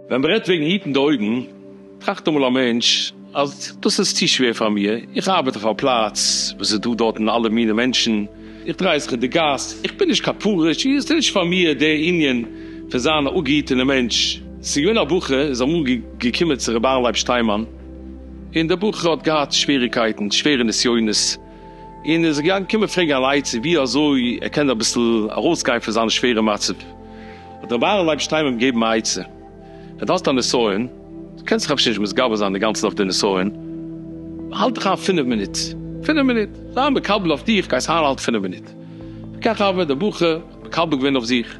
ווען מען רעדט וועגן היטן די אויגן, טראכט אמאל א מענטש אז דאס איז צו שווער פאר מיר, איך ארבעט אויף א פלאץ וואס איז דא דארטן אלע מיני מענטשן, איך דריי זיך אין די גאס, איך בין נישט קיין פרוש, עס איז נישט פאר מיר די ענין פון זיין א אפגעהיטענע מענטש. ס'איז געווען א בחור איז אמאל געקומען צו ר' אהרן לייב שטיינמאן. און דער בחור האט געהאט שוועריקייטן, שווערע נסיונות, און איז געגאנגען קומען פרעגן אן עצה ווי אזוי ער קען אביסל ארויסגיין פון זיין שווערע מצב, האט רבי אהרן לייב שטיינמאן אים געגעבן א עצה, ווען דו האסט א נסיון, דו קענסט דיך אפשר נישט מתגבר זיין אינגאנצן אויף די נסיון, האלט דיך איין פינף מינוט, פינף מינוט, זיי מקבל אויף דיך, גייסט איינהאלטן פינף מינוט, וכך הוה, דער בחור האט מקבל געווען אויף זיך,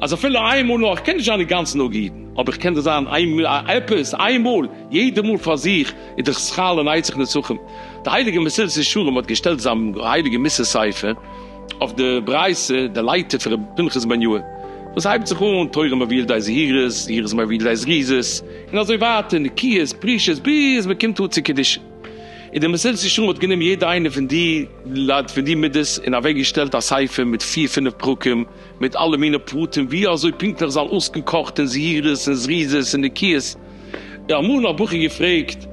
אז אפילו איין מאל נאר, איך קען נישט זיין אינגאנצן נגד אידן, אבער איך קען דאס זיין עפעס איין מאל, יעדע מאל פאר זיך איז דאך שכר לנצח נצחים. די הייליגע מסילת ישרים האט געשטעלט זיין הייליגע מס' ספר אויף די ברייתא דלייתא פון רבי פנחס בן יואל, וואס הייבט זיך אן, תורה מביאה לידי זהירות, זהירות מביאה לידי זריזות, און אזוי ווייטער, נקיות, פרישות, ביז מען קומט אן צו קדושה. און די מסילת ישרים האט גענומען יעדע איינע פון די מידות און אוועק געשטעלט א ספר מיט פיר פינף פרקים, מיט אלע מיני פרטים ווי אזוי פונקטליך זאל אויסקן קאכט און זהירות און זריזות און נקיות, און אמאל האב איך געפרעגט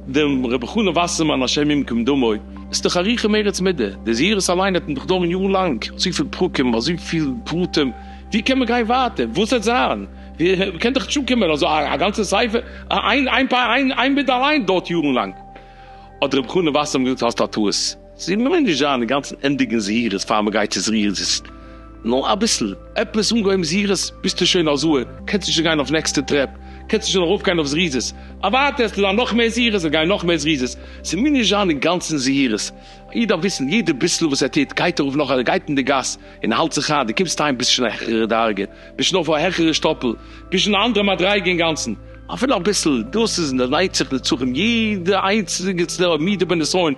דעם ר' חנן וואסערמאן השם ימקום דמו, ס'איז דאך א ריח און מריץ מידה, די זהירות אליין וועט מען דאך דארן יאר לאנג, אזויפיל פרקים, אזויפיל פרטים, ווי קען מען גיין ווייטער, וואס וועט זיין, מען קען דאך נישט אנקומען אזוי א גאנצע ספר, איין מידה אליין דארט יארן לאנג, האט ר' חנן וואסערמאן געזאגט האסט א טעות. ס'איז ממילא נישט זיין אינגאנצן ענדיגן זהירות פאר מ'גייט צו זריזות, נאר אביסל, עפעס אנגעהויבן זהירות ביסטו שוין א זהר, קענסט נישט גיין אויף נעקסטע טרעפ, קענסט נישט ארויפגיין אויף זריזות, אוואטער עס טוט זיין נאך מער זהירות און גיין נאך מער זריזות, ס'ממילא נישט זיין אינגאנצן זהירות, א איד דארף וויסן יעדע ביסל וואס ער טוט, גייט ער ארויף נאך ער גייט אין די גאס און האלט זיך איין, דו קומסט אהיים ביסט שוין א העכערע דרגה, ביסט שוין אויף א העכערע שטאפל, ביסט שוין א אנדערע מדריגה אינגאנצן, אפילו אביסל, דאס איז און דערנייט זיך נצחון יעדע איינציגסטע מידה בנסיון,